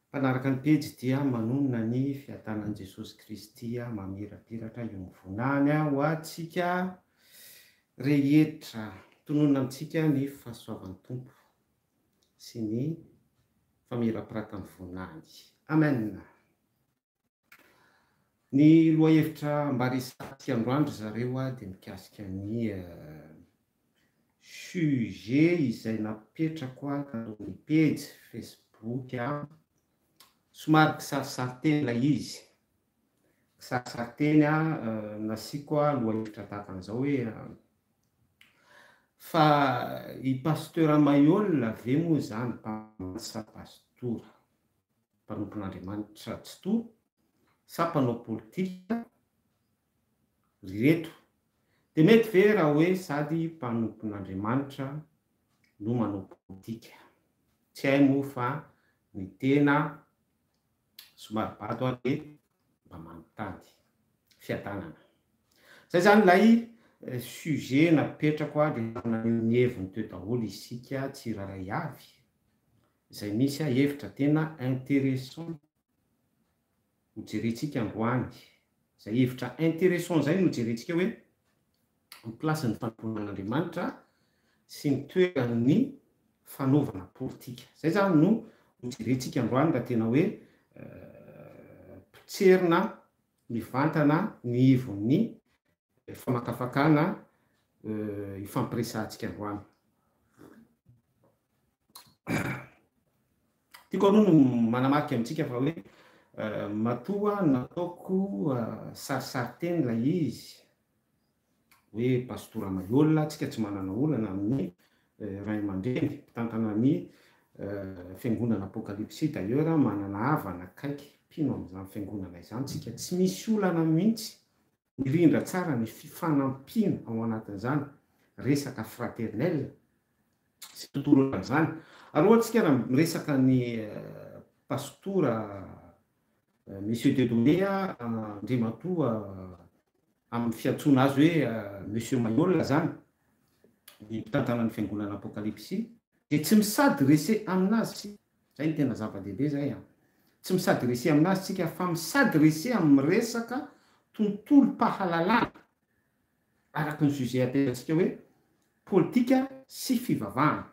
Mpanaraka ny pejy dia manonona ny fiadanan'i Jesosy Kristy mamirapiratra io mivonany ho antsika rehetra. Tononina amintsika ny fahasoavan'ny Tompo sy ny famirapiratany vonany. Amen. Ny lohahevitra mba resahantsika androany ry zareo a dia mikasika ny sujet izay napetrako tato amin'ny pejy facebook a, somary kisarisarinteny ilay izy, kisarisarinteny a, nasiako lohahevitra tahaka an'izao hoe, fa i Pasteur Maihol ve moa izany mpamantsa pastora? mpanompon'Andriamanitra tsitoha sa mpanao politika ry reto? Dia mety ve raha hoe sady mpanompon'Andriamanitra no manao politika? Tsy hay moa fa ny tena somary bado aho dia mba manontany. Fiadanana. Izay izany ilay sujet napetrako aho dia naneho ny heviny teo daholo isika tsirairay avy. Izay misy ahy hevitra tena interessant ho jerentsika androany. Izay hevitra interessant izay no ho jerentsika hoe ny place ny fanompoanan'Andriamanitra sy ny toeran'ny fanaovana politika. Izay izany no ho jerentsika androany raha tena hoe potserina mivantana ny ivon'ny famakafakana ifampiresahantsika androany. Tiako aloha no manamarika amintsika fa hoe matoa nataoko sarisarinteny ilay izy hoe Pastora Maiola, tsika tsy manana olana amin'ny ray aman-dreny mpitantana ny fiangonana Apokalipsy d'ailleurs manana havana akaiky mpino amin'izany fiangonana izany tsika, tsy misy olana mihitsy Mirindra tsara ny fifanampiana ao anatin'izany resaka fraternel sy tontolo ohatran' izany. Ary hoantsika raha miresaka ny Pastora Monsieur Dieudonné a, Andriamatoa amin'ny fiantsoana azy hoe Monsieur Maiola izany, ny mpitantana ny Fiangonana Apokalipsy, dia tsy mi-s'adresser amin'azy Zay no tena zava-dehibe zay a! Tsy mi-s'adresser aminazy tsika fa mi-s'adresser amin'ny resaka tontolom-pahalalana araky ny sujet aterantsika hoe politika sy fivavahana.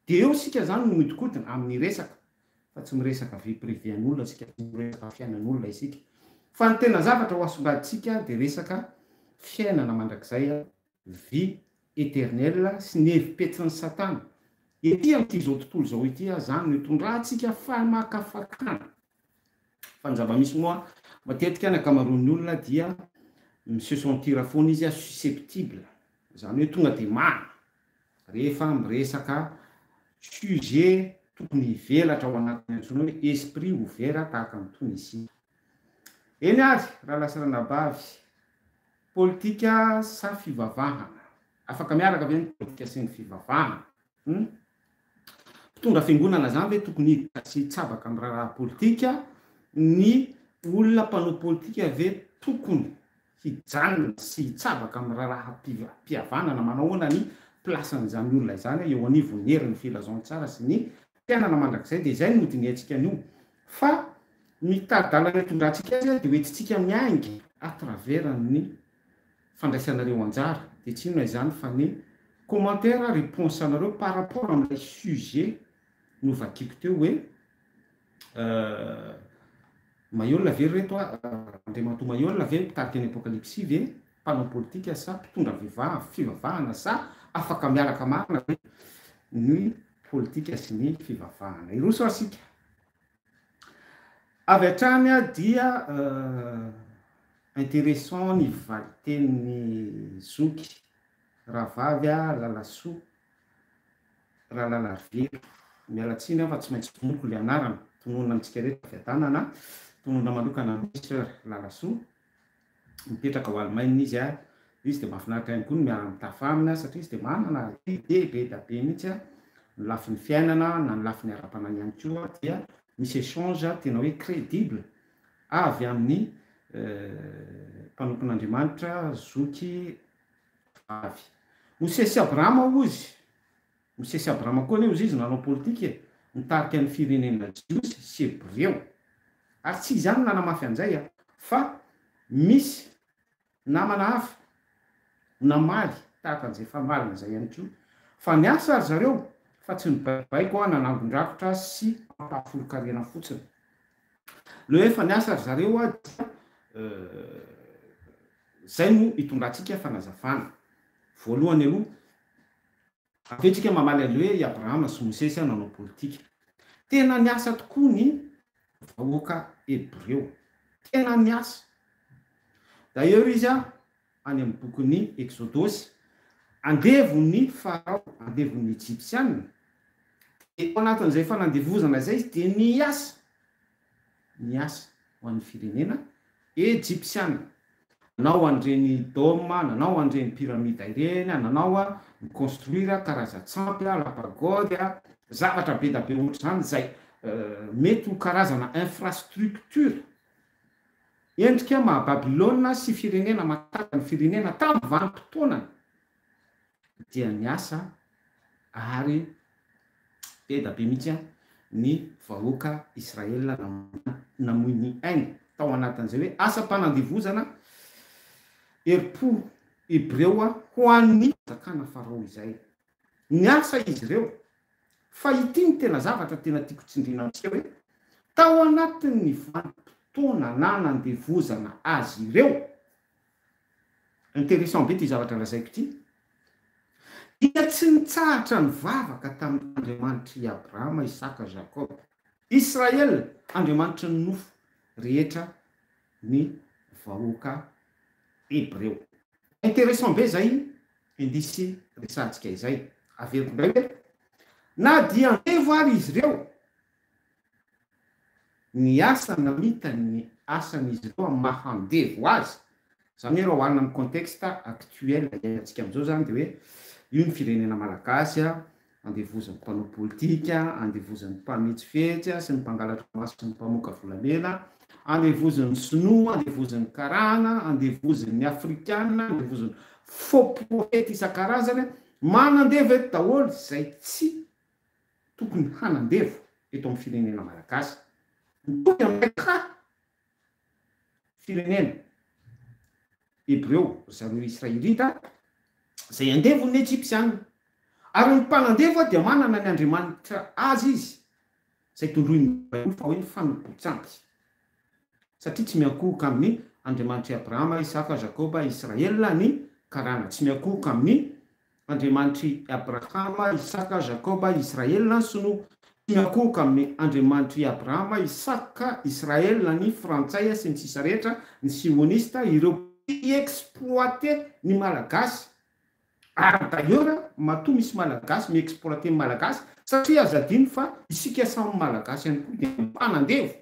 Dia eo isika zany no mihodinkodina amin'ny resaka fa tsy miresaka vie privée an'olona tsika, tsy miresaka fiainan'olona isika. Fa ny tena zavatra ho asongadintsika dia resaka fiainana mandrakizay Vie eternelle sy ny hevi-petrin'i Satana ety amin'ity izao tontolo izao ity aza izany no itondrantsika famakafakana. Fa ny zava-misy moa, matetika ny ankamaroan'ny olona dia mi-se sentir foana izy susceptible, izany hoe tonga dia many, rehefa miresaka sujet tokony hivelatra ao anatiny antsoina hoe esprit ouvert tahaka an'itony isika. Eny ary, Ralasy Ranabavy, Politika sa fivavahana? Afaka miaraka ve ny politika sy ny fivavahana? Humm. Mpitondra fiangonana izany ve tokony hiditra sy hitsabaka amin'ny raharaha politika? Ny olona mpanao politika ve tokony hijanona sy hitsabaka amin'ny raharaham-pihavanana? Manahoana ny place-n'izany olona izany eo anivon'ny herin'ny filazantsara sy ny fiainana mandrakizay? Dia izay no hodinihantsika anio. Fa ny tari-dalana itondrantsika azy dia hoentintsika miainga à travers ny fandraisanareo anjara, dia tsy inona izany fa ny commentaires réponses anareo par rapport amin'ilay sujet novakiko teo hoe Maiola ve ry reto a, Andriamatoa Maiola ve mpitarika ny Apocalypsy ve, mpanao politika sa mpitondra fivavahana sa afaka miaraka marina ve ny politika sy ny fivavahana? Hiroso isika. Avy hatrany dia intéressant ny valitenin'ny zoky rahavavy Lalasoa Ralalarovelo. Miala tsiny aho fa tsy maintsy tononiko ilay anarana, tononina amintsika rehetra fiadanana, tononina manokana an'i Soeur Lalasoa. mipetraka ao Alemaina izy ary izy dia mahafinaritra ihany koa ny miara-mitafa aminy satria izy dia manana ide be dia be mihitsy a, ny lafiny fiainana na ny lafiny ara-panahy ihany koa dia misy échange tena hoe crédible avy amin'ny mpanompon'Andriamanitra zoky vavy. Mosesy sy Abrahama hozy. Mosesy Abrahama koa anie ozy izy nanao politika e, nitarika ny firenena jiosy sy hebreo. Ary tsy izy ihany nanamafy an'izay a, fa misy namana hafa namaly tahaka an'izay efa marina izay ihany koa, fa niasa ry zareo fa tsy nibaikobaiko a, nanangon-drakitra sy nampahafolon-karena fotsiny. Le hoe efa niasa ry zareo a dia izay no itondratsika fanazavana. Voalohany aloha Avy eo tsika mamaly anle hoe i Abrahama sy Mosesy an nanao politika. Tena niasa tokoa ny vahoaka Hebreo. Tena niasa. D'ailleurs izy an any amin'ny bokin'ny Eksodosy, andevon'ny Farao, andevon'ny Ejipsianina, dia tao anatin'izay fanandevozana izay izy dia niasa. miasa ho an'ny firenena Ejipsiana. Nanao an'ireny dôme, nanao an'ireny pyramida ireny, nanao mi-construire karazan-tsampy, lapagode, zavatra be da be ohatr'izany izay mety ho karazana infrastructure endrika maha Babylona sy firenena matanjaka ny firenena tamin'ny vanim-potoanany. dia niasa ary eda be mihitsy ny vahoaka Israel namoy ny ainy tao anatin'izay hoe asam-panandevozana herim-po Hebreo ho an'ny fanjakana Farao izay. Niasa izy ireo. Fa ity ny tena zavatra tena tiako tsindriana amintsika hoe tao anatin'ny vanim-potoana nanandevozana azy ireo, Interessant be ty zavatra lazaiko ity. Dia tsy nitsahatra nivavaka tamin' Andriamanitr' i Abrahama, Isaka, Jakob, Israel, Andriamanitry ny nofo rehetra ny vahoaka hebreo. Interessant be izay indisy resahantsika izay. Averiko indray hoe, Na dia andevo ary izy ireo, ny asa namitany ny asan'izy ireo amin'ny maha andevo azy, izany hoe raha oharina amin'ny contexte actuel iainantsika amin'izao izany dia hoe io ny firenena malagasy andevozan'ny mpanao politika, andevozan'ny mpametsifetsy sy ny mpangalatra maso sy ny mpamoaka volamena, andevozan'ny sinoa, andevozan'ny karana, andevozin'ny afrikana, andevozan'ny faux prophète isan-karazany, manandevo eto daholo izay tsy. tokony hanandevo eto amin'ny firenena malagasy. Mitovy amin'ilay ka firenena Hebreo zany Israelita izay andevon'ny Ejipsiana. Ary ny mpanandevo dia manana ny Andriamanitra azy izy izay tondroin'ny Baiboly fa hoe ny fanompoan-tsampy satria tsy miankohoka amin'ny Andriamanitr'i Abrahama, Isaka, Jakoba, Israel ny karana, tsy miankohoka amin'ny Andriamanitr'i Abrahama, Isaka, Jakoba, Israelina, Sinoa, tsy miankohoka amin'ny Andriamanitr'i Abrahama, Isaka, Israelina, ny Frantsay sy ny sisa rehetra, ny Sionista, ireo mpi-exploiter ny Malagasy. Ary d'ailleurs matoa misy Malagasy mi-exploiter ny Malagasy satria aza adino fa isika samy Malagasy ihany koa dia mpanandevo.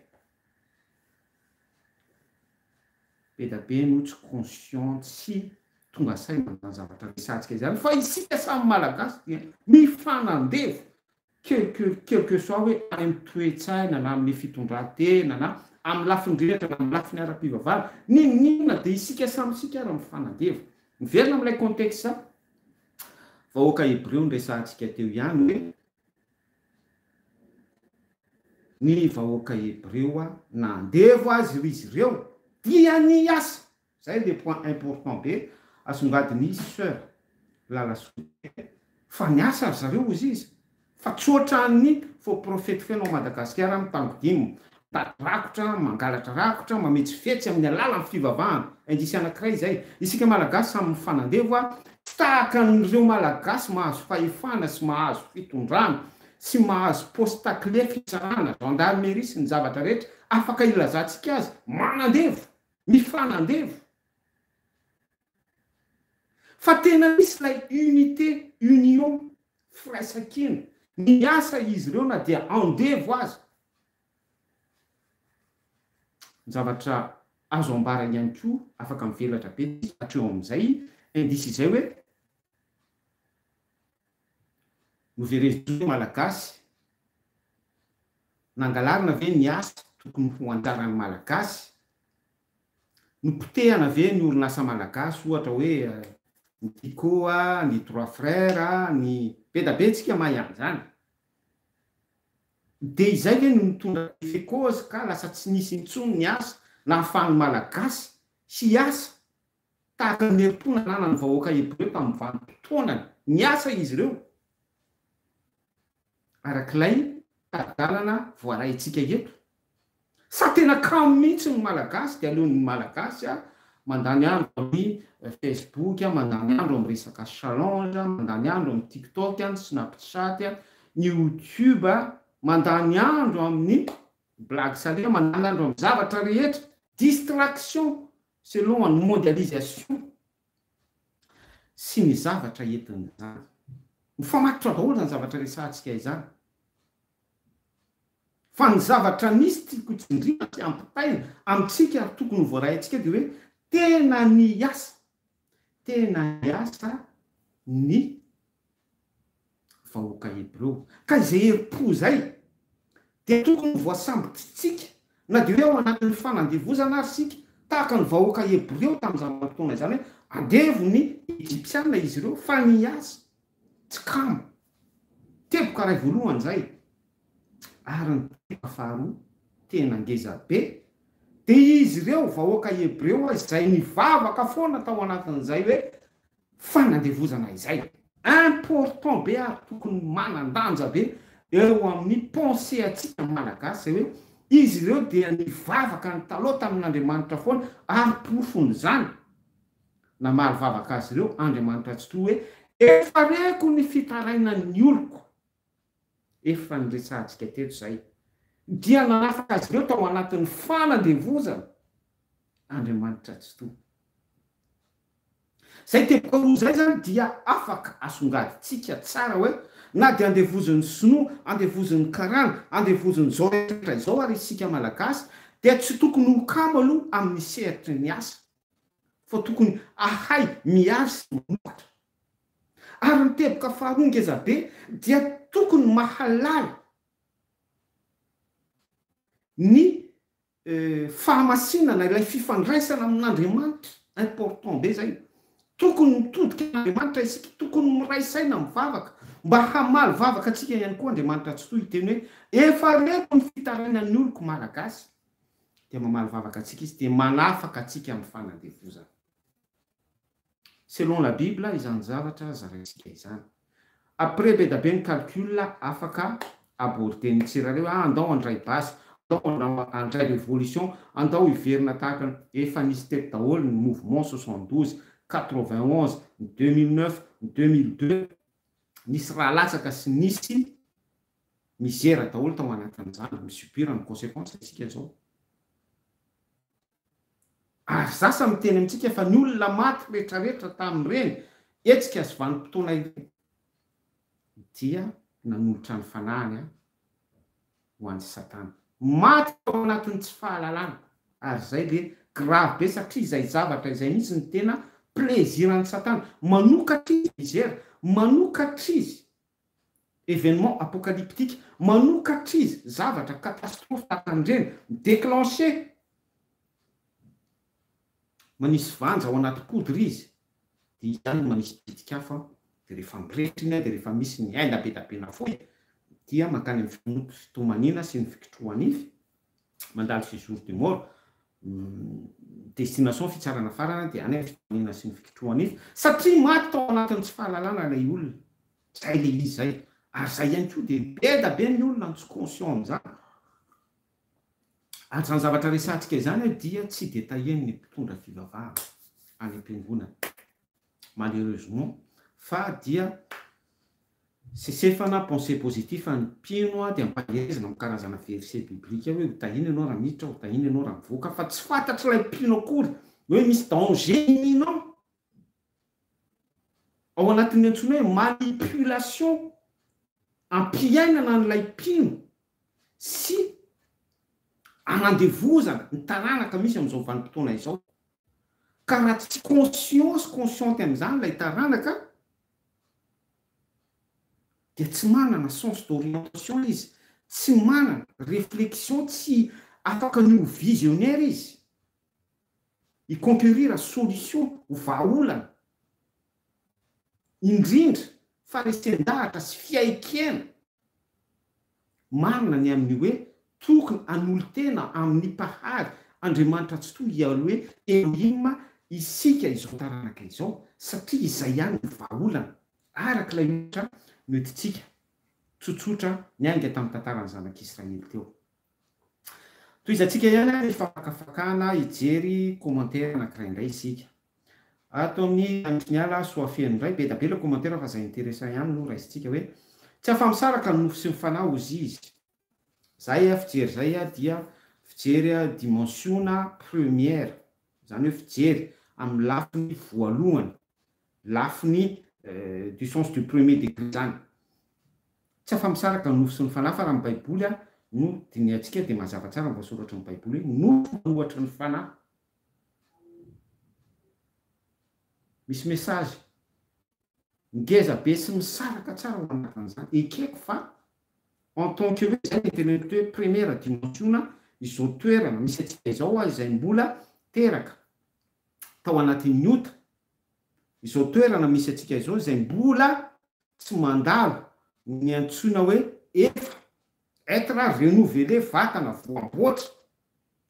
Be da be no tsy conscient tsy tonga saina amin'izany zavatra resahantsika izany fa isika samy malagasy dia mifanandevo quelque quel que soit hoe any amin'ny toe-tsaina na amin'ny fitondran-tena na amin'ny lafiny rehetra na amin'ny lafiny ara-pivavahana n'inon'inona dia isika samy isika ary mifanandevo. Miverina amin'ilay contexte vahoaka hebreo niresahantsika teo ihany hoe Ny vahoaka hebreo a, na andevo azy ry zireo dia ny hiasa! Zay le point important be asongadin i soeur lala soa be fa ny asa ry zareo ozizy fa tsy otran ny faux prophète feno a Madagasikara mitango dim Mitady rakotra, mangalatra rakotra, mametsifetsy amin'ny alalan'ny fivavahana. Indrisy anankiray izay. Isika Malagasy samy mifanandevo a! Tsy tahaka an'ireo Malagasy mahazo fahefana sy mahazo fitondrana sy mahazo posta kle fitsarana, gendarmerie sy ny zavatra rehetra afaka ilazantsika azy, manandevo! Mifanandevo! Fa tena misy ilay unité, union, firaisankina. Miasa izy ireo na dia andevo aza. Ny zavatra azo ambara ihany koa, afaka mivelatra be ny zavatra eo amin'izay, indice izay hoe, noverezintsika hoe Malagasy, nangalarina ve ny asa tokony ho anjaran'ny Malagasy? Nopotehana ve ny orinasa malagasy ohatra hoe ny Tico, ny Trois Frères, ny. Be da be tsika mahay an'izany. Dia izay ve no nitondra effet cause ka lasa tsy nisy intsony ny asa nahafahan'ny malagasy hiasa tahaka ny herim-po nananan'ny vahoaka hebreo tamin'ny vanim-potoanany niasa izy ireo? arak'ilay tari-dalana voaraintsika eto? Sa tena kamo mihitsy ny Malagasy dia aleon'ny Malagasy mandany andro amin'ny Facebook, mandany andro amin'ny resaka challenge, mandany andro amin'ny TikTok, ny Snapchat, ny YouTube, mandany andro amin'ny blague salée, mandany andro amin'ny zavatra rehetra, distraction selon ny mondialisation. sy ny zavatra entiny izany. Mifamatotra daholo izany zavatra resahantsika izany. Fa ny zavatra misy tiako tsindriana sy ampitaina amintsika ary tokony ho voaray antsika dia hoe tena niasa, tena niasa ny vahoaka hebreo. Ka izay herim-po izay dia tokony ho voasambotsintsika, na dia hoe ao anatin'ny fanandevozana aza isika, tahaka ny vahoaka hebreo tamin'izany vanim-potoana izany hoe andevon'ny Egyptiana izy ireo, fa ny azy tsy kamo. Teboka iray voalohany izay. Ary ny teboka faharoa, tena ngeza be, dia izy ireo vahoaka hebreo izay nivavaka foana tao anatin'izay hoe fanandevozana izay. Important be ary tokony manandanja be eo amin'ny pensee antsika malagasy izay hoe izy ireo dia nivavaka ny taloha tamin'Andriamanitra foana ary porofon'izany namaly vavaka azy ireo Andriamanitra Tsitoha hoe efa reko ny fitarainan'ny oloko. efa niresahantsika teto izay, dia nanafaka azy ireo tao anatin'ny fanandevozana Andriamanitra Tsitoha. Izay teboka roa izay izany dia afaka asongadintsika tsara hoe na dia andevozin'ny sinoa, andevozin'ny karana, andevozin'izao rehetra izao ary isika Malagasy dia tsy tokony ho kamo aloha amin'ny sehatry ny asa fa tokony ahay miaro sy mamokatra. Ary ny teboka faharoa ngeza be dia tokony mahalala ny fahamasinana, ilay fifandraisana amin'Andriamanitra, important be zay, tokony mitodika amin'Andriamanitra isika, tokony miray saina mivavaka mba hamaly vavaka antsika ihany koa Andriamanitra Atsitoha hiteny hoe efa reko ny fitarainan'ny oloko Malagasy, dia mamaly vavaka antsika izy dia manafaka antsika amin'ny fanandevozana. Selon la bible izany zavatra zaraintsika izany. Après be da be ny calcul afaka aborder ny tsirairay hoe ah andao handray basy, andao handray révolution, andao hiverina tahaka ny efa nisy teto daholo ny mouvement soixante douze, quatre vingt onze, ny deux mille neuf, ny deux mille deux, nisy rà latsaka sy nisy misère daholo tao anatin'izany, mi-subir ny consequence isika zao. Ary zasa miteny amintsika fa ny olona maty retraretra tamin'ireny hetsika sy vanim-potoana ireny dia nanolotra ny fanahiny ho an'i Satana. Maty tao anatin'ny tsy fahalalana. Ary izay dia grave be satria izay zavatra izay mihitsy no tena plaisir an'i Satana. Manokatra izy mizera, manokatra izy Événement apocalyptique, manokatra izy zavatra catastrophe tahaka an'ireny, mi-déclencher, manisy vanja ao anaty poudre izy, dia izany no manisy pitik'afo, dia rehefa mirehitra iny dia rehefa misy ny aina be dia be nafoy dia mankany amin'ny fitomaniana sy ny fikitrohanify, mandalo sy jour de mort destination fitsarana farany dia any fitoniana sy ny fikitrohana izy satria maty tao anatin'ny tsy fahalalana ilay olona zay le izy zay ary zay ihany koa dia beda be ny olona tsy conscient amin'izany ary zany zavatra resahantsika izany dia tsy dia tahian'ny mpitondra fivavahana any am-piangonana malheureusement fa dia sesefana pensee positif ny mpino dia ampahehezana am karazana verset biblique hoe ho tahina ianao raha miditra ho tahina ianao raha mivoaka fa tsy fantatry ilay mpino akory hoe misy danger ny minao ao anatin'ny antsoina hoe manipulation ampiainana an'ilay mpino sy anandevozana ny taranaka misy amin'izao vanim-potoana izao Ka raha tsy conscient sy consciente amin'izany ilay taranaka dia tsy manana sens d'orientation izy, tsy manana réflexion, tsy afaka ny ho visionnaire izy, hi-conquérir solution, ho vahaolana, indrindra fa resen-dahatra sy fiaikena. Marina ny amin'ny hoe tokony hanolo-tena amin'ny Mpahary Andriamanitra Tsitoha Yahweh Elohim isika izao taranaka izao satria izay ihany no vahaolana, araka ilay ohatra noentintsika tsotsotra niainga tamin'ny tantaran'ny zanak'Israely teo. Tohizantsika ihany ary fakafakana hijery commentaire anankiray indray isika. Ato amin'ny Androtry ny Ala Soafeno indray, be da be ilay commentaire fa izay interessant ihany no raisintsika hoe, Tsy afa-misaraka ny nofo sy ny fanahy hozy izy. Izay fijery izay dia fijery dimensiona première, izany hoe fijery amin'ny lafiny voalohany. lafiny du sens du premier degré izany. Tsy afa-misaraka ny nofo sy ny fanahy fa raha ny baiboly ary no dinihantsika dia mazava tsara ny voasoratry ny baiboly hoe nofo manohatra ny fanahy. Misy message. Ngeza be sy misaraka tsara ao anatin'izany. Ekeko fa en tant que hoe izay ny teneniko hoe première dimension izao toerana misy antsika izao izay mbola teraka tao anatin'ny ota izao toerana misy antsika izao izay mbola tsy mandalo ny antsoina hoe efa, être renouvelé, vatana voamboatra,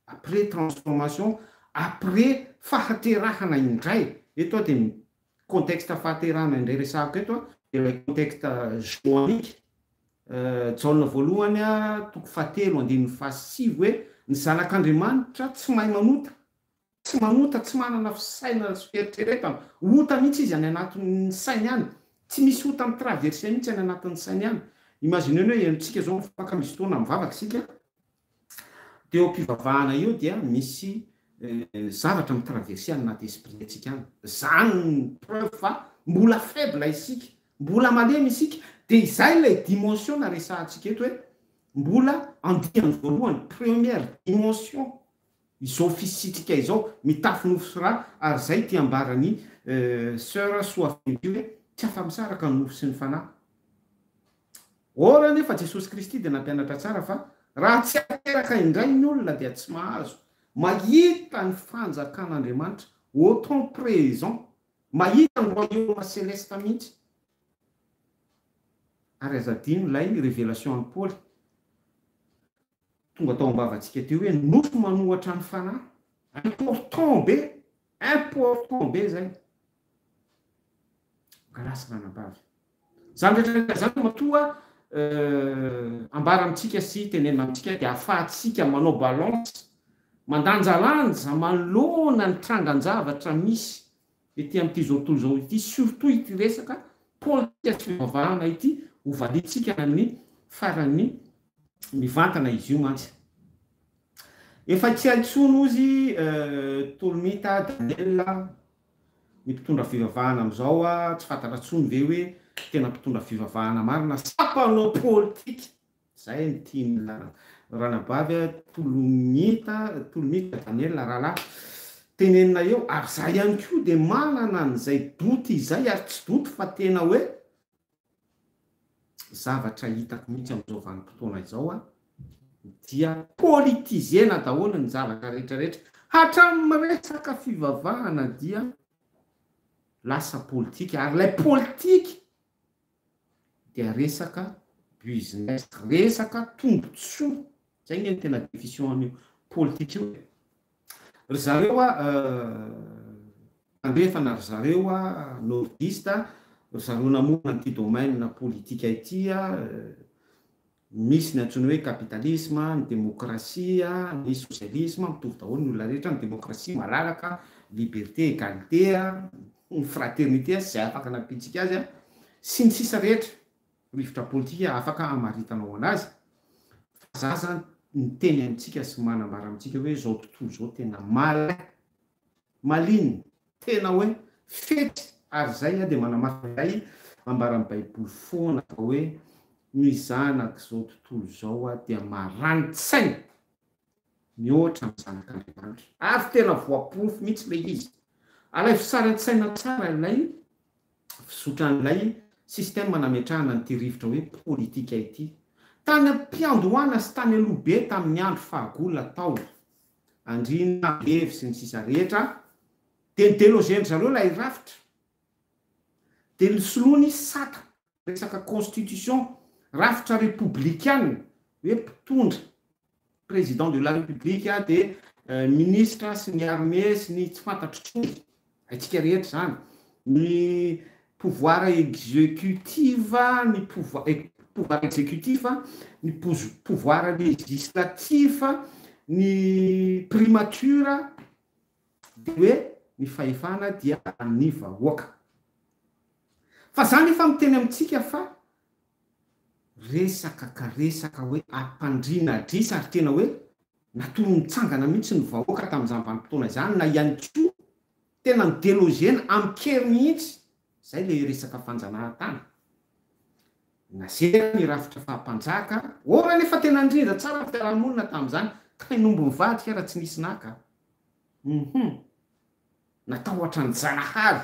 après transformation, après fahaterahana indray, eto aho dia ny contexte fahaterahana indray resahako eto aho dia ilay contexte joanique, Jaona voalohany a, toko fahatelo, andininy fahasivy hoe, ny zanak'Andriamanitra tsy mahay manota, Tsy manota, tsy manana fisainana sy fieritreretana. Ota mihitsy izy any anatin'ny sainy any. Tsy misy ota mi-traverser mihitsy any anatin'ny sainy any. Imaginez-ny hoe henontsika izao ny faka misy fotoana mivavaka isika, dia eo am-pivavahana eo dia misy zavatra mi-traverser any anaty esprit-ntsika any. Izany no preuve fa mbola faible isika, mbola malemy isika. Dia izay ilay dimension naresahantsika eto hoe mbola andiany voalohany, première dimension Izao fisitrika izao, mitafy nofy sy rà, ary izay ity ambaran'i Soeur Soafina ity hoe, tsy afa-misaraka ny nofy sy ny fanahy. Or anefa Jesosy Kristy dia nampianatra tsara fa raha tsy ateraka indray ny olona dia tsy mahazo mahita ny fanjakan'Andriamanitra au temps présent, mahita ny royaume céleste mihitsy. Ary aza adino ilay révélation an'i Paoly. Tonga tao am-bavantsika teo hoe nofy manohatra ny fanahy. Important be! Important be izay. Grâce ranabavy. Izany rehetra rehetra izany matoa ambara amintsika sy tenenina amintsika dia ahafahantsika manao balance, mandanjalanja manoloana ny trangan-javatra misy Ety amin'ity zao tontolo izao ity, surtout ity resaka politika sy fivavahana ity, ho valiantsika amin'ny faran'ny mivantana izy io mantsy. Efa tsy hay intsony hozy Tolomita Daniel a, ny mpitondra fivavahana amin'izao a, tsy fantatra intsony ve hoe tena mpitondra fivavahana marina sa mpanao politika? Zay ny tian'ny ranabavy a, tolomita, tolomita Daniel a rahalahy, tenenina eo, ary za ihany koa dia manana an'izay doute izay, ary tsy doute fa tena hoe zavatra hitako mihitsy amin'izao vanim-potoana izao a, dia politiser-na daholo ny zavatra rehetra rehetra, hatramin'ny resaka fivavahana dia lasa politika, ary ilay politika dia resaka business, resaka tombotsoa, zay nge ny tena defision an'io politika io e! Ry zareo a, tandrefana ry zareo a, nordiste a, ry zareo namorona an'ity domaine politika ity a, Misy ny antsoina hoe kapitalisma, ny demokrasia, ny sosialisma, mitovy daholo ny olona rehetra, ny demokrasia malalaka, liberté, égalité, ny fraternité sy izay afaka nampiantsika azy, sy ny sisa rehetra, rivotra politika afaka hamaritanao anazy fa zaza miteny amintsika sy manambara amintsika hoe izao tontolo izao tena mal. Maliny, tena hoe fetsy ary izay dia manamarika ilay ambaran'ny Baiboly foana fa hoe ny zanak'izao tontolo izao dia marani-tsaina mihoatra ny zanak'Andriamanitra. Ary tena voaporofo mihitsy ilay izy. Alaivo sary an-tsaina tsara ilay fizotran'ilay système nametrahana an'ity rivotra hoe politika ity. Tany am-piandohana sy tany aloha be tamin'ny andro fahagola tao. andriana, andevy, sy ny sisa rehetra, dia ny deloger-ndry zareo ilay rafitra, dia ny soloany sata, resaka constitution, rafitra repoblikana, hoe mpitondra, président de la république dia minisitra sy ny armée sy ny tsy fantatro tsony, Haintsika rehetra izany. Ny pouvoir executif, ny pouvoir executif, ny pouvoir legislatif, ny primature dia hoe ny fahefana dia an'ny vahoaka. Fa za nefa miteny amintsika fa resaka ka resaka hoe ampandriana adrisa ary tena hoe Natory nitsangana mihitsy ny vahoaka tamin'izany vanim-potoana izany na ihany koa tena nodelogena amin-kery mihitsy izay ilay resaka fanjanahantany. Nazerany rafitra faha-mpanjaka or anefa tena nirindra tsara ny fiarahamonina tamin'izany kay nomby nivadika raha tsy nisy naka. Hum hum. Natahotra an'i Janahary.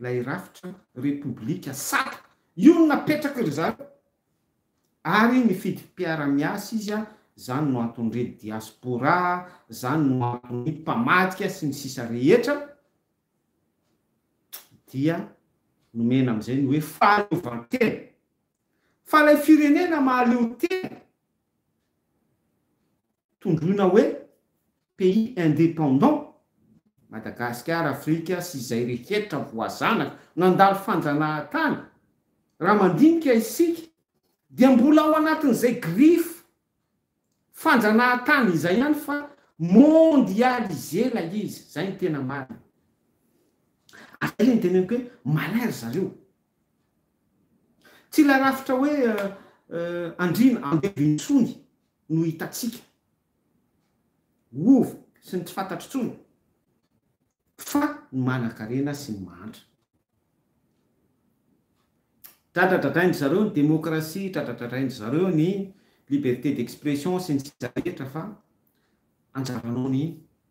Ilay rafitra repoblika sata io no napetrak'i ry zareo ary nifidy mpiara-miasa izy an, zany no anton're diaspora, zany no anton'ny mpamadika sy ny sisa rehetra dia nomena amin'izay ny hoe fahaleovantena. Fa ilay firenena mahaleotena. tondroina hoe pays indépendant, Madagasikara, Afrika sy izay rehetra voazanaka nandalo fanjanahantany, raha mandinika isika dia mbola ao anatin'izay griffe fanjanahantany izay ihany fa mondialisé ilay izy, izay no tena marina. Ary izay ilay niteneniko hoe malin ry zareo. Tsy ilay rafitra hoe andriana andevo intsony. no hitantsika hova sy ny tsy fantatro intsony fa ny manankarena sy ny mahantra. Dradradradrain-dry zareo ny démocratie, dradradradrain-dry zareo ny liberté d'expression sy ny sisa rehetra fa anjaranao ny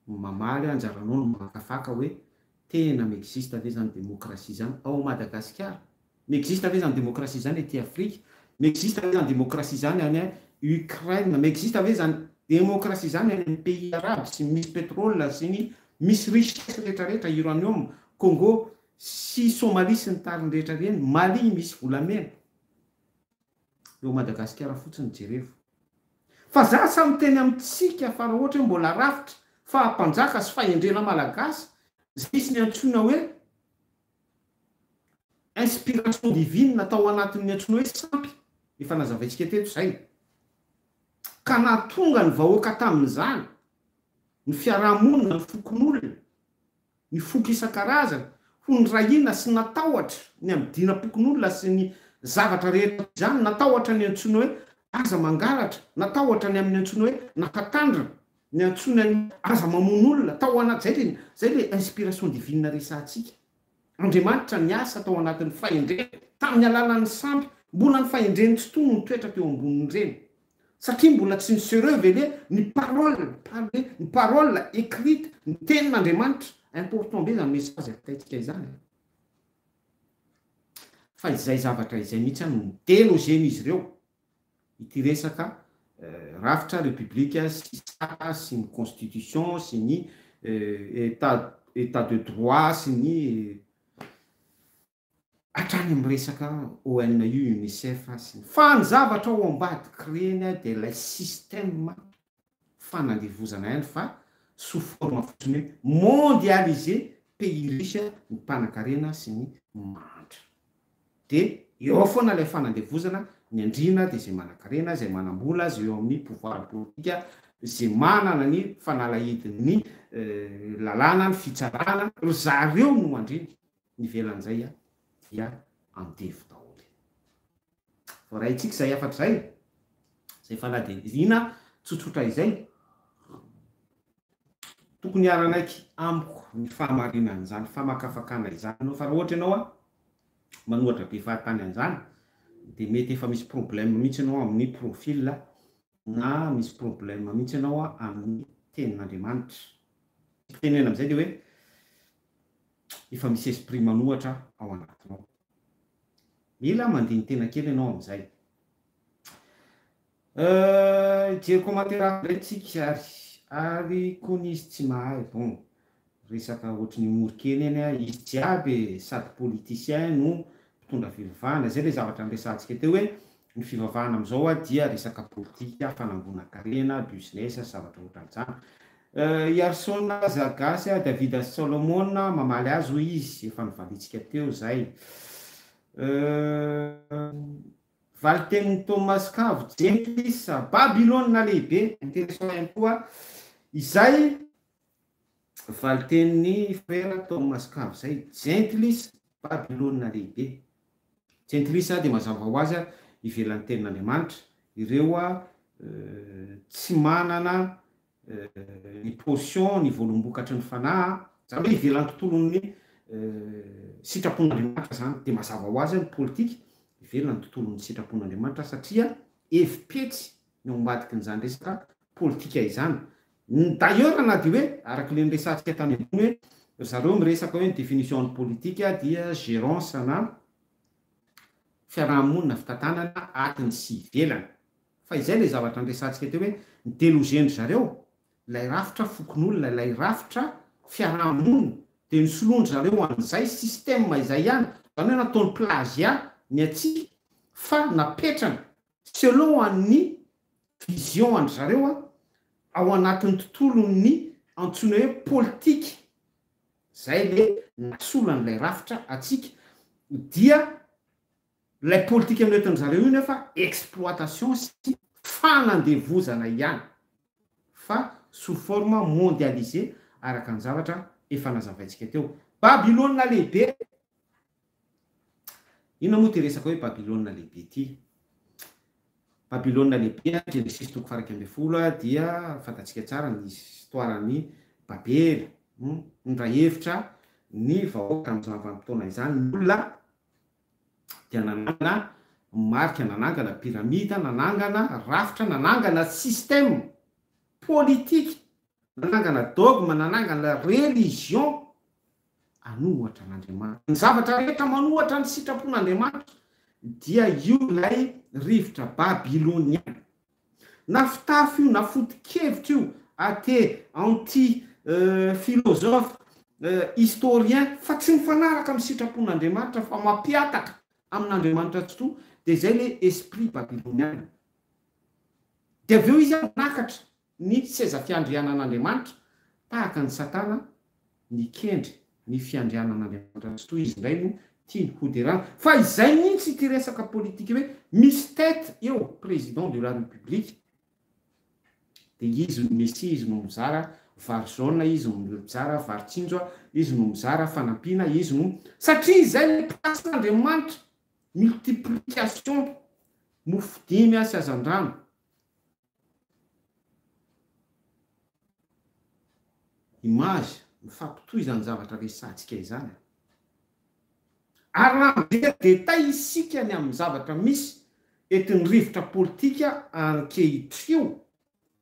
Mamaly anjaranao ny makafaka hoe tena mi-existe ve zany demokrasia zany ao Madagasikara? Mi-existe ve zany demokrasia zany ety Afrika? Mi-existe ve zany demokrasia zany any Ukraine? Mi-existe ve zany demokrasia zany any amin'ny pays arabo sy misy petrole sy ny misy richesse rehetra rehetra, uranium, Congo sy Somalie sy ny tariny rehetra ireny, Mali misy volamena? Eo Madagasikara fotsiny jerevo fa za tsa miteny amitsika fa ra ohatra hoe mbola rafitra faha mpanjaka sy fahendrena malagasy zay izy ny antsoina hoe inspiration divine tao anatin ny antsoina hoe sampy efa nazavaintsika teto zay ka nahatonga ny vahoaka tamin zany ny fiaraha monina ny fokonolona ny foko isan-karazany ho nirahina sy natahotra ny amin'ny dinam-pokonolona sy ny zavatra rehetra toy izany, natahotra ny antsoina hoe aza mangalatra, natahotra ny amin'ny antsoina hoe nafatandrina, ny antsoina ny hoe aza mamono olona, tao anaty, izay ilay, izay ilay inspiration divine resahantsika. Andriamanitra niasa tao anatin'ny fahendrena, tamin'ny alalan'ny sampy, mbola ny fahendreny tsy tony nitoetra teo ambonin'ireny. satria mbola tsy ny sereux ve le ny parole parle ny parole ecrite ny tenin'Andriamanitra important be zany message avitaintsika izany e! fa izay zavatra izay mihitsy any no delogen'izy ireo ity resaka rafitra repoblika sy sata sy ny constitution sy ny etat etat de droit sy ny Hatrany amin'ny resaka ONU, Unicef sy ny. Fa ny zavatra ao ambadik'i reny dia ilay système fanandevozana ihany fa sous forme fotsiny hoe mondialisé, pays riche ny mpanankarena sy ny mahantra. Dia eo ao foana ilay fanandevozana, ny andriana dia izay manankarena, izay manam-bola, izay eo amin'ny pouvoir politika, izay manana ny fanalahidin'ny lalàna, ny fitsarana, ry zareo no andriana. nivelan'izay a dia andevo daholo. Voaraintsika izay hafatra izay, izay fanadihadiana tsotsotra izay. Tokony hiara-naiky amiko ny fahamarinan'izany famakafakana izany ianao, fa raha ohatra ianao manohatra be fahatany an'izany dia mety efa misy problème mihitsy ianao amin'ny profil na misy problème mihitsy ianao amin'ny tenin'Andriamanitra. Tiako tenenina amin'izay dia hoe efa misy esprit manohatra ao anatinao. Mila mandini-tena kely ianao amin'izay. Hijery commentaire hafa indray tsika ary. Ary kony izy tsy mahay. Bon, resaka ohatrin'ny humour kely eny an. Izy jiaby e, sady politicien no mpitondra fivavahana. Izay ilay zavatra niresahantsika teo hoe Ny fivavahana amin'izao dia resaka politika, fanangonan-karena, business sy zavatra ohatran'izany. I Harison aza gasy, David sy Solomon mamaly azy hoy izy, efa novaliantsika teo izay. Valitenin'i Thomas Cave Jenkins, Babylona Lehibe, intéressant ihany koa izay. Valin-tenin'i Frera Toamasokavy izay, Jentilisa, Babylona Lehibe. Jentilisa dia mazava ho azy ivelan'ny tenin'Andriamanitra, ireo tsy manana ny potion, ny voalombokatry ny fanahy, izany hoe ivelan'ny tontolon'ny sitrapon'Andriamanitra izany, dia mazava ho azy ny politika ivelan'ny tontolon'ny sitrapon'Andriamanitra satria hevi-petsy ny ao ambadikin'izany resaka politika izany, D'ailleurs na dia hoe, araka ilay niresahantsika tany ambony hoe, ry zareo miresaka hoe ny définition ny politika dia gérance na fiaraha-monina fitantanana atiny sy ivelany. Fa izay ilay zavatra niresahantsika teo hoe, ny deloger-ndry zareo ilay rafitra fokonolona, ilay rafitra fiaraha-monina dia nosoloan-dry zareo an'izay système izay ihany, izany hoe nataony plagiat ny antsika fa napetrany Selon an'ny vision an-dry zareo an, ao anatin'ny tontolon'ny antsoina hoe politika, izay le nasolo an'ilay rafitra antsika, dia ilay politika noentin-dry zareo io nefa exploitation sy fanandevozana ihany, fa sous forme mondialisée araka ny zavatra efa nazavaintsika teo. Babylona Lehibe Inona moa ity resaka hoe Babylona Lehibe ity? Babylona Lehibe, Genesisy toko faha-iraika ambin'ny folo, dia fantatsika tsara ny histoiran'i Babela. Nindray hevitra ny vahoaka tamin'izany vanim-potoana izany, ny olona, dia nanangana marika, nanangana pyramida, nanangana rafitra, nanangana système politique, nanangana dogme, nanangana religion. hanohatra an'Andriamanitra. Ny zavatra rehetra manohatra ny sitrapon'Andriamanitra dia io ilay rivotra babyloniana. Na fitafy io na foto-kevitra io, athée, anti, philosophe, historien, fa tsy mifanaraka amin'ny sitrapon'Andriamanitra fa mampihataka amin'Andriamanitra tsitoha dia izay ilay esprit babyloniana. Dia avy eo izy manakatra Ny tsy seza fiandrianan'Andriamanitra, tahaka an'i Satana, mikendry ny fiandrianan'Andriamanitra. Tsy toy izy indray no tiany hoderana. Fa izay mihitsy ity resaka politika hoe misy tête eo, président de la République, dia izy no Messie, izy no mizara vary jaune, izy no mizara vary tsinjo, izy no mizara fanampiana, izy no. Satria izay ilay place-n'Andriamanitra, multiplication, mofo dimy sy hazandrano, Image, Mifampitohy izany zavatra resahantsika izany a! Ary raha mijery détail isika ny amin'ny zavatra misy eto ny rivotra politika ankehitrio,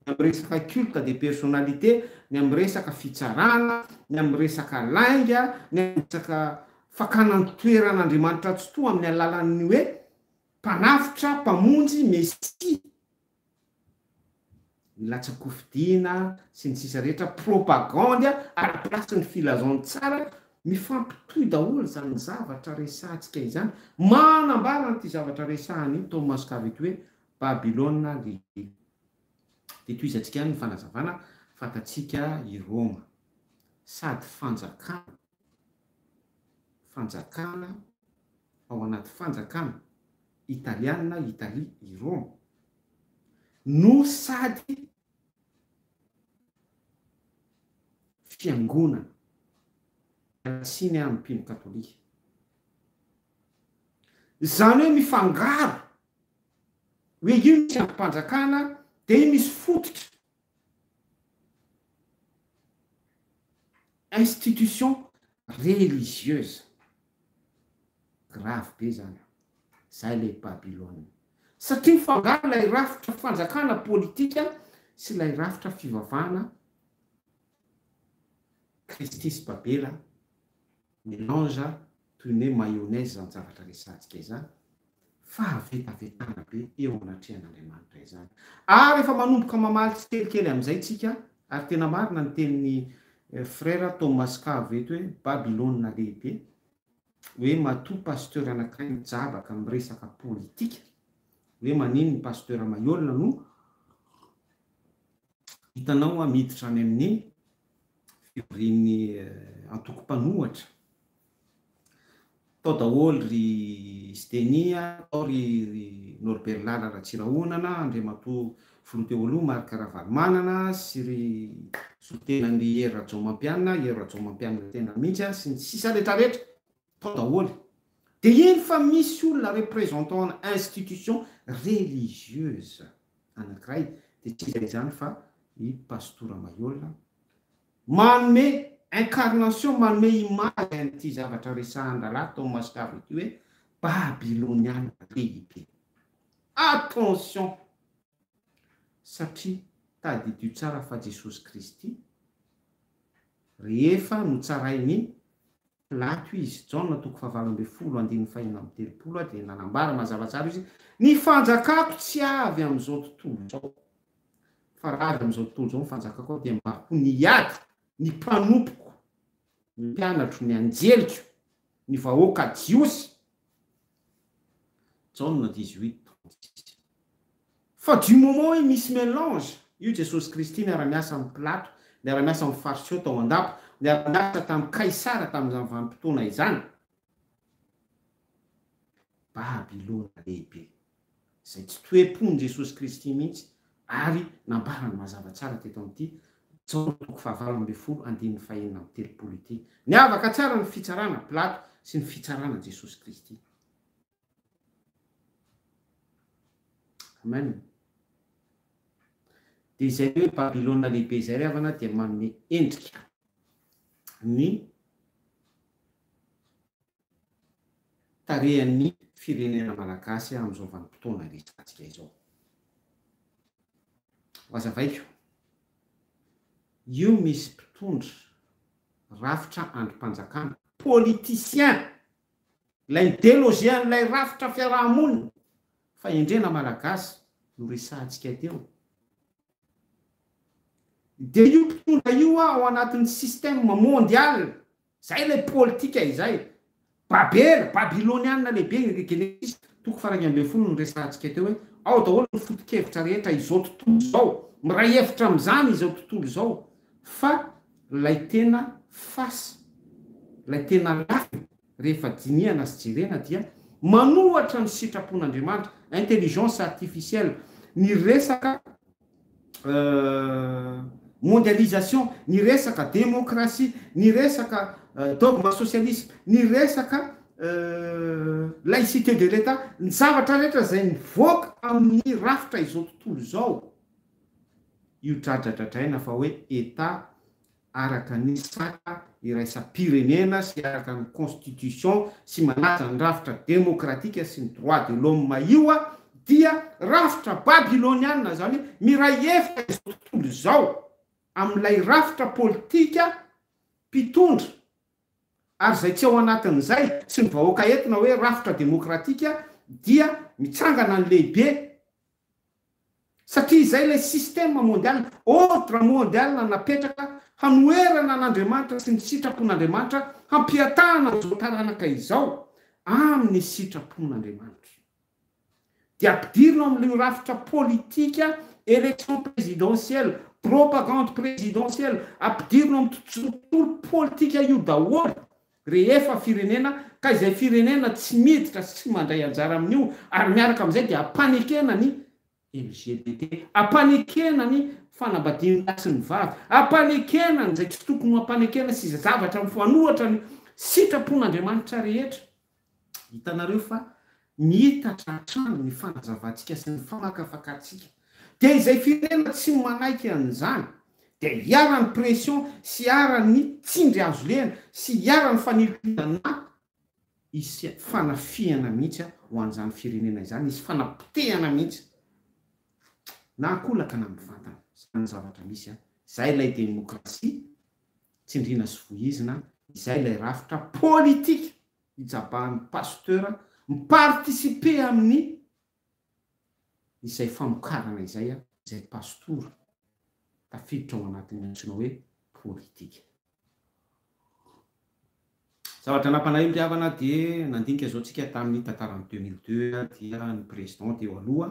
ny amin'ny resaka culte des personnalités, ny amin'ny resaka fitsarana, ny amin'ny resaka lainga, ny amin'ny resaka fakana an-toerana Andriamanitra Tsitoha amin'ny alalan'ny hoe mpanavotra, mpamonjy, Mesia, ny latsa-kofidina sy ny sisa rehetra propagandy ara place ny filazan tsara mifampitohy daholo zany zavatra resahantsika izany manambara an'ity zavatra resahany io tao mascave ity hoe babylona lehibe de tohizantsika ihany ny fanazavana fantatsika i roma sady fanjakana Fanjakana ao anaty fanjakana italiana, Italie, i Roma, no sady fiangonana iarahatsiny amin'ny mpino katolika. Izany hoe mifangaro, hoe io misy andrim-panjakana dia misy fototra institution religieuse, grave be zany an, zay le Babylone, satria mifangaro lay rafitra fanjakana politika sy lay rafitra fivavahana kristy sy babela, Melange toy ny hoe mayonnaise izany zavatra resahantsika izany, fahavetavetana be eo anatrehan'Andriamanitra izany. Ary efa manomboka mamaly tsikelikely amin'izay tsika, ary tena marina ny tenin'i Frera Thomas Cave eto hoe Babylona lehibe, hoe matoa pasteur anankiray mijabaka miresaka politika, hoe maninn ny pasteur mahiolona no hitanao miditra any amin'iny fivorian'ny antoko mpanohatra. Tao daholo ry Sdenia, tao ry Norbert Lala Ratsirahonana, Andriamatoa Filoha teo aloha Marc Ravalomanana sy ry solontenan'i Hery Rajaomampianina, Hery Rajaomampianina tena mihitsy, sy ny sisa retraretra. Tao daholo. Dia eny fa misy olona représentant ana institution religieuse anankiray dia tsy iza izany fa i Pastora Maiola manome incarnation, manome image an'ity zavatra resahan-drahalahy tao Mascavo ity hoe Babyloniana lehibe. Attention! Satria tadidio tsara fa Jesosy Kristy rehefa notsarain'i Pilato izy. Jaona toko fahavalo ambin'ny folo andininy fahenina amby telopolo a dia nanambara mazava tsara izy, Ny fanjakako tsy avy amin'izao tontolo izao, fa raha avy amin'izao tontolo izao ny fanjakako aho dia mba ho niady ny mpanompoko, ny mpianatro, ny anjeliko, ny vahoaka jiosy Jaona dix huit trente six. Fa du moment hoe misy melange, io Jesosy Kristy niara-niasa amin'i Pilato, niara-niasa amin'ny Fariseo tao an-dapa, niara-niasa tamin'i Kaisara tamin'izany vanim-potoana izany, Babylona lehibe. izay tsy toe-pon'i Jesosy Kristy mihitsy ary nambarany mazava tsara teto amin'ity Jaona toko fahavalo ambin'ny folo andininy fahenina amby telopolo ity. Niavaka tsara ny fitsarana Pilato sy ny fitsarana Jesosy Kristy. Amen. Dia izay hoe Babylona lehibe izay ry havana dia manome endrika ny tarehan'ny firenena malagasy amin'izao vanim-potoana iresahantsika izao. Hohazavaiko, io misy mpitondra rafitra andrim-panjakana, politiciens, ilay idelogie-n'ilay rafitra fiaraha-monina fahendrena malagasy noresahantsika teo, dia io mpitondra io ao anatin'ny système mondial, Zay ilay politika izay. Babela, Babylonianina lehibe igny ry Genesisy toko fara iraika ambin'ny folo no resahantsika teo hoe ao daholo ny foto-kevitra rehetra izao tontolo izao. Miray hevitra amin'izany izao tontolo izao fa ilay tena face, ilay tena lafiny rehefa dinihana sy jerena dia manohatra ny sitrapon'Andriamanitra, intelligence artificielle, ny resaka. mondialisation, ny resaka démocratie, ny resaka dogme socialisme, ny resaka laïcité de l'Etat, ny zavatra rehetra izay mivoaka amin'ny rafitra izao tontolo izao, io dradradradraina fa hoe Etat araka ny sata iraisam-pirenena sy araka ny constitution sy manaja ny rafitra demokratika sy ny droit de l'homme io dia rafitra babyloniana izany hoe miray hevitra izao tontolo izao amin'ilay rafitra politika mpitondra ary izay tsy ao anatin'izay sy ny vahoaka eto na hoe rafitra demokratika dia mitsangana ny lehibe Satria izay ilay système mondial, ordre mondial napetraka hanoherana an'Andriamanitra sy ny sitrapon'Andriamanitra, hampihatahana an'izao taranaka izao amin'ny sitrapon'Andriamanitra. Dia ampidirina ao amin'io rafitra politika, élection présidentielle, propagande présidentielle, ampidirina ao amin'ny tontolo politika io daholo Rehefa firenena, ka izay firenena tsy miditra sy tsy mandray anjara amin'io, ary miaraka amin'izay dia ampanekena ny LGBT, ampanekena ny fanambadian'ny lahy sy ny vavy, ampanekena an'izay tsy tokony ho ampanekena sy izay zavatra mifanohitra ny sitrapon'Andriamanitra rehetra. Hitanareo fa miitatra hatrany ny fanazavantsika sy ny famakafakatsika. Dia izay firenena tsy manaiky an'izany dia iharan'ny pression sy iharan'ny tsindry azo lehana sy iharan'ny fanilikolana na hisy fanafihana mihitsy ho an'izany firenena izany, hisy fanapotehana mihitsy na an-kolaka na mivantana. Izany ny zavatra misy an! Izay ilay demokrasia tsindriana sy vohizina, izay ilay rafitra politika! hitsabahan'ny pasteur mi-participer amin'ny izay famokarana izay izay pastora tafiditra ao anatin'ny antsoina hoe politika. Zavatra nampalahelo ry havana dia nandinika izao tsika tamin'ny tantaran'ny deux mille deux dia ny président teo aloha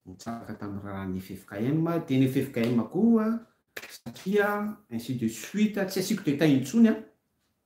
nitsabaka tamin'ny raran'ny ffkm dia ny ffkm koa satria ainsi de suite tsy asiako détail intsony an!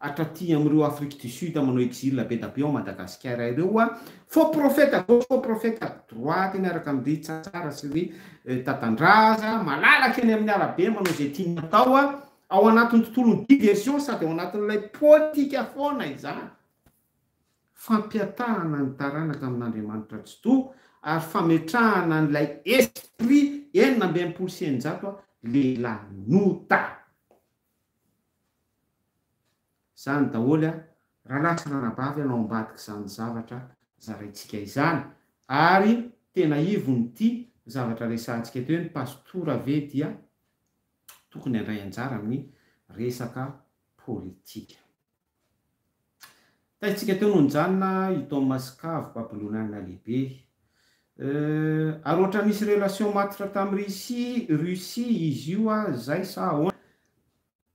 hatraty amin'ireo Afrique du Sud manao exil be da be ao Madagasikara ireo a! Faux prophète à gauche, faux prophète à droite miaraka amin-dry Tsatsara sy ry Tatandraza malalaka eny amin'ny arabe manao izay tiany atao a! Ao anatin'ny tontolon'ny diversion sady ao anatin'ilay politika foana izany. Fampihatahana ny taranaka amin'Andriamanitra Tsitoha ary fametrahana an'ilay esprit enina amby enimpolo sy eninjato a! Lehilahy nota! Izany daholo an! Rahalahy sy ranabavy an ao ambadik'izany zavatra zaraintsika izany, ary tena ivon'ity zavatra resahantsika eto hoe ny pastora ve dia tokony handray anjara amin'ny resaka politika. Taitsika teo no nijanona i Thomas Cave, Babylonianina Lehibe. Euh, ary ohatra nisy relation matotra tamin'i Russie, Russie izy io ah, zay sa ahoana?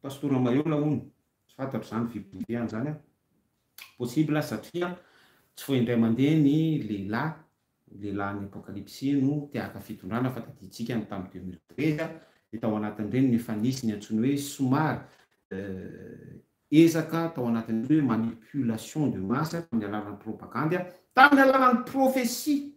Pastora Maheola hono, tsy fantatro izany fipoirihana izany an. Possible satria tsy vao indray mandeha ny lehilahy, lehilahin'ny apokalypsy no te haka fitondrana fa tadintsika ny tamin'ny 2013 dia tao anatin'ireny no efa nisy ny antsoiny hoe somary euh, Ezaka tao anatin'ny hoe manipulation de masse tamin'ny alalan'ny propagandy, tamin'ny alalan'ny prophetie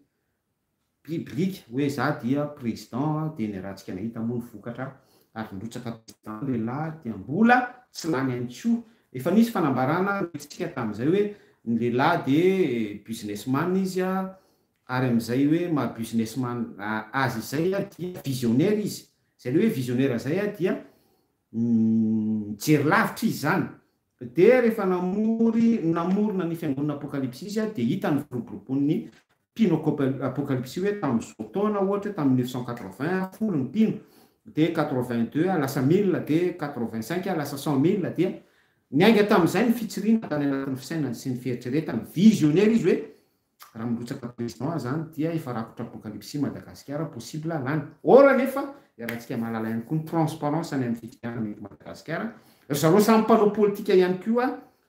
biblique hoe za dia président dia ny ratsika nahita moa ny vokatra ary nirotsaka président lehilahy dia mbola tsy lany ihany koa. Efa nisy fanambarana noetintsika tamin'izay hoe ny lehilahy dia business man izy ary amin'izay hoe maha business man azy izay dia visionnaire izy. Izay le hoe visionnaire izay dia. Mijery lavitra izy izany. Dia rehefa namory, namorona ny fiangonana Apokalypsy izy, dia hita ny firoborobon'ny mpino Akopa, Apokalypsy hoe tamin'izao taona, ohatra hoe tamin'ny neuf cent quatre-vingts, folo ny mpino, dia quatre-vingt-deux lasa mille, dia quatre-vingt-cinq lasa cent mille, dia niainga tamin'izay ny fitsiriana tany anatin'ny fisainany sy ny fieritreretany. Visionera izy hoe Raha mirotsaka président izany dia efa rakotra apocalypse Madagasikara possible lany or nefa iarahantsika mahalala ihany koa ny transparence any amin'ny fifidianana eto Madagasikara ry zareo samy mpanao politika ihany koa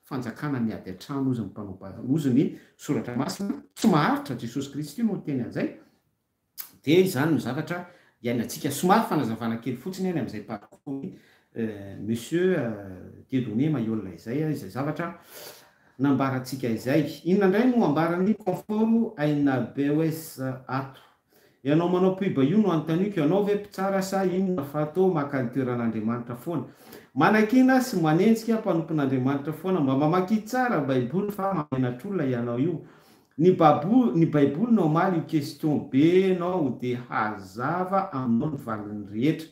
fanjakana miady an-trano hozy ny mpanao hozy ny soratra masina tsy maharitra Jesosy Kristy no niteny an'izay Dia izany no zavatra iainantsika. Somary fanazavana kely fotsiny any amin'izay parcours-ny Monsieur Dieudonné Mahiolona izay, izay zavatra nambarantsika izay. Inona indray no ambaran'ny Confort Aina Beoes ato? Ianao manao pub io no anontaniako, ianao ve mpitsara sa inona fa toa maka ny toeran'Andriamanitra foana? Manakiana sy manenjika mpanompon'Andriamanitra foana, mba mamakia tsara Baiboly fa mahamenatr'olona ianao io. Ny babo ny baiboly no hamaly io question be nao de hazava aminao ny valiny rehetra.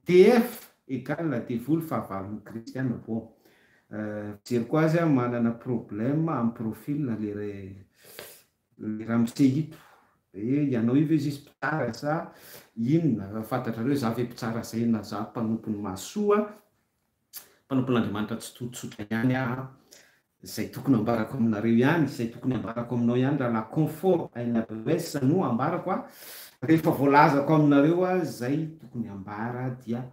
DF égale devoly fahavalony kristy an bon euh fijery ko azy an manana problème am profil na le le ramose ito e ianao io ve zisy mpitsara sa inona fantatrareo za ve mpitsara zay na za mpanompony mahasoa mpanompon'Andriamanitra tsototsotra ihany aho an! Izay tokony ambarako aminareo ihany, izay tokony ambarako aminao ihany rahalahy Comfort ANWS no ambarako an! Rehefa voalazako aminareo izay tokony ambara dia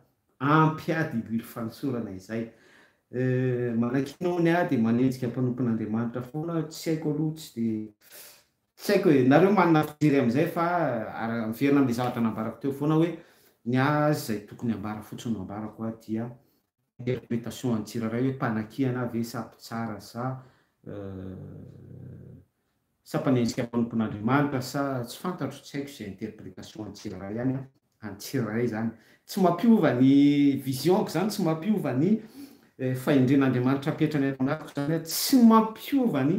ampy ahy dibily fanosorana izay. Manankinao ny ahy dia manenjika mpanompon'Andriamanitra foana, tsy haiko aloha, tsy dia Tsy haiko e, nareo manana fijery amin'izay fa ara, miverina amin'ilay zavatra nambarako teo foana hoe ny ahy izay tokony hambara fotsiny no ambarako a, dia interpretation an'ny tsirairay hoe mpanakiana ve sa mpitsara sa sa mpanenjika mpanompon'Andriamanitra sa tsy fantatro, tsy haiko izay interpretation an'ny tsirairay ihany an. Any tsirairay izany. Tsy mampiova ny vision-ko izany, tsy mampiova ny fahendren'Andriamanitra apetrany ato anatiko izany, tsy mampiova ny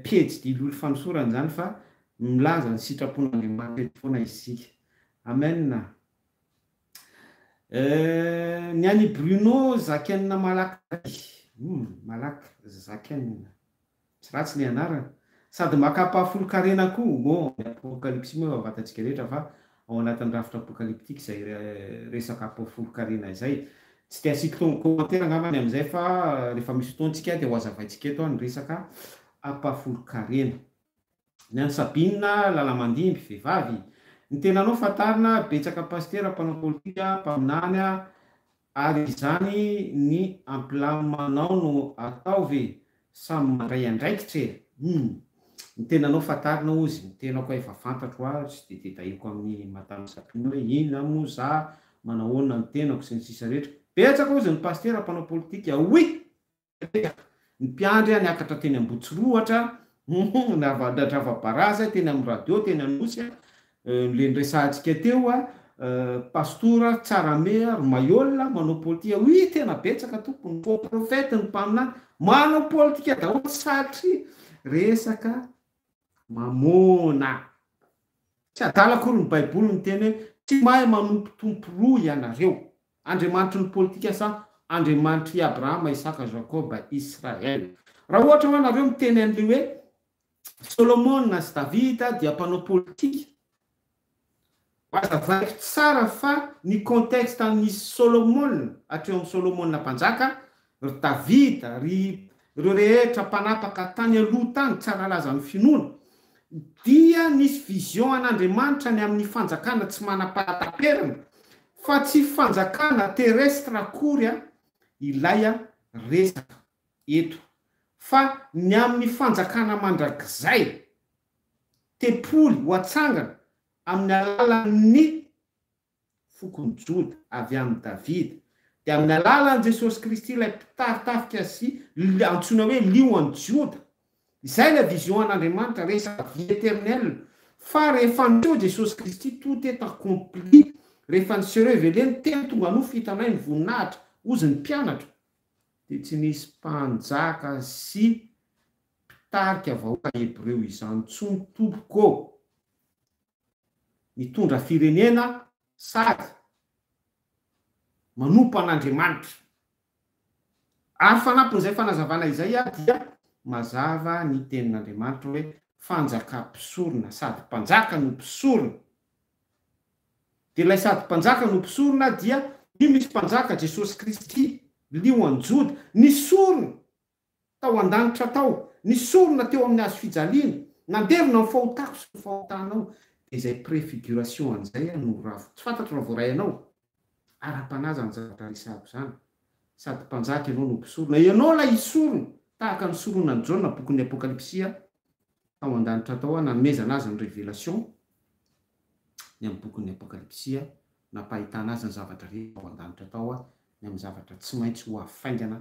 pejy dilily fanosorana izany fa milaza ny sitrapon'Andriamanitra eto foana isika. Amen. Euh, ny an'i Bruno zakainina malaky zay. Humm, malaky zakainina. Tsy ratsy ny anarana. Sady makam-pahafolon-karena koa. Bon, ny apokalypsy moa efa fantatsika rehetra fa ao anatin'ny rafitra apokalyptika izay resaka apofolon-karena izay. Tsy dia asiako tao commentaire angamba ny amin'izay fa rehefa misy fotoantsika dia ho hazavaintsika eto ny resaka apofolon-karena. Ny an'i Sabina lalamandimby, vehivavy. Ny tenanao fantarina, betsaka pasitera, mpanao politika, mpaminany, Ary izany ny ampilaminao no ataovy samy mandray andraikitra e! Humm! Ny tenanao fantarina ozy ny tenako a efa fantatro hoa tsy dia tedahiko amin'i Madame Sabina hoe inona moa za, manahoana ny tenako sy ny sisa rehetra. Betsaka ozy ny Pasitera mpanao politika. Oui! Mipetraka ny mpiandry a, niakatra teny Ambotsirohatra, humm, nadrava barazy a, teny amin'ny radio, teny Anosy a, le niresahantsika teo a, pastora, tsarame a, ry maiola, manao politika, oui, tena betsaka tompoko, ny faux prophète, ny mpaminany, manao politika daholo satria resaka mamôna. Tsy adala akory ny baiboly miteny hoe tsy mahay manompo tompo roa ianareo. Andriamanitry ny politika sa Andriamanitr' i Abrahama, Isaka, Jakoba, Israel? Raha ohatra hoa nareo miteny an' ilay hoe Solomona sy Davida dia mpanao politika, azavaiko tsara fa ny contexte nisy Solomona hatreo am Solomona mpanjaka Ry Davida, ry ireo rehetra mpanapaka tany aloha tany, tsy hanalaza ny finoana, dia nisy vision an'Andriamanitra ny amin'ny fanjakana tsy manam-pahataperana, fa tsy fanjakana terrestre akory ilay resaka eto, fa ny amin'ny fanjakana mandrakizay, tempoly ho atsangana amin'ny alalan'ny fokon'i Joda, avy amin'i Davida, dia amin'ny alalan'i Jesosy Kristy ilay mpitari-tafika sy antsoina hoe Lion an'i Joda. Izay ilay vision an'Andriamanitra, resaka vie éternelle, fa rehefa niseho Jesosy Kristy, tout est accompli, rehefa ni se reveler ny Teny tonga nofo hitanay ny voninahitra, hozy ny mpianatra, dia tsy nisy mpanjaka sy mpitarika vahoaka hebreo izany intsony tompoko ô! mitondra firenena sady manompo an'Andriamanitra. Ary fanampin'izay fanazavana izay ary dia mazava ny tenin'Andriamanitra hoe fanjaka mpisorona sady mpanjaka no mpisorona. Dia ilay sady mpanjaka no mpisorona dia io misy mpanjaka Jesosy Kristy, lio an'i Joda, ny sorona Tao an-danitra tao, ny sorona teo amin'ny hazo fijaliana, nandevona ny fahotako sy ny fahotanao, dia izay préfiguration an'izay aho no ravo, tsy fantatro raha voaray anao? Ara-panahy izany zavatra resahako izany, sady mpanjaka ianao no mpisorona, ianao ilay hisorona, tahaka ny soronan'i Jaona bokin'ny Apokalypsia, tao an-danitra tao aho, nanomezana azy ny révélation, ny amin'ny bokin'ny Apokalypsia, nampahitana azy ny zavatra rehetra tao an-danitra tao aho, ny amin'ny zavatra tsy maintsy ho avy faingana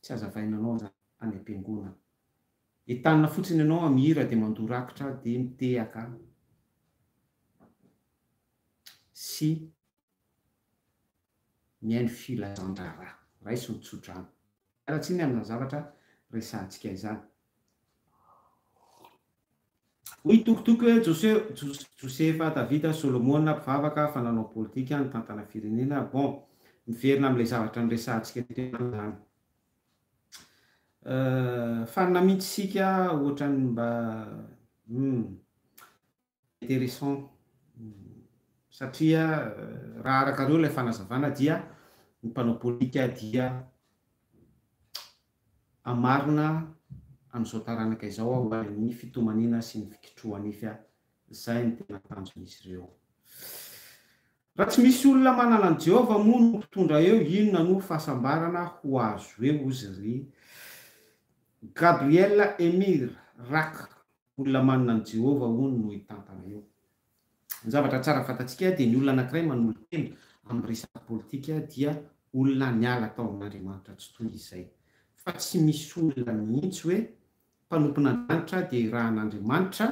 Tsy hazavaina anao zany any ampiangonana. Entanina fotsiny ianao am hira de mandoa rakitra de mitehaka sy mihaino filazandraharaha. Raiso ny tsodrano. Miala tsiny amina zavatra resahantsika izany. Hoy Tokotoko hoe Josefa, Davida, Solomona, mpivavaka, fa nanao politika, nitantana firenena, bon, miverina amin'ilay zavatra niresahantsika teo ihany izany. Fanina mihitsy isika ohatran'ny mba hmm, intéressant satria raha arakareo ilay fanazavana dia ny mpanao politika dia Hamarina an'izao taranaka izao aho ary ny fitomaniana sy ny fikitrohanify aho. Izay no tena tanjon'izy ireo. Raha tsy misy olona manana an'i Jehovah moa no mpitondra eo, inona no fahasambarana ho azo eo, hozy ry Gabriel Emir Rakh, Olona manana an'i Jehovah, hono, no hitantana io. Ny zavatra tsara fantatsika dia ny olona anankiray manolo-tena amin'ny resaka politika dia olona niala tao amin'Andriamanitra tsy toy izay. Fa tsy misy olona mihitsy hoe mpanompon'Andrianitra dia irahan'Andriamanitra,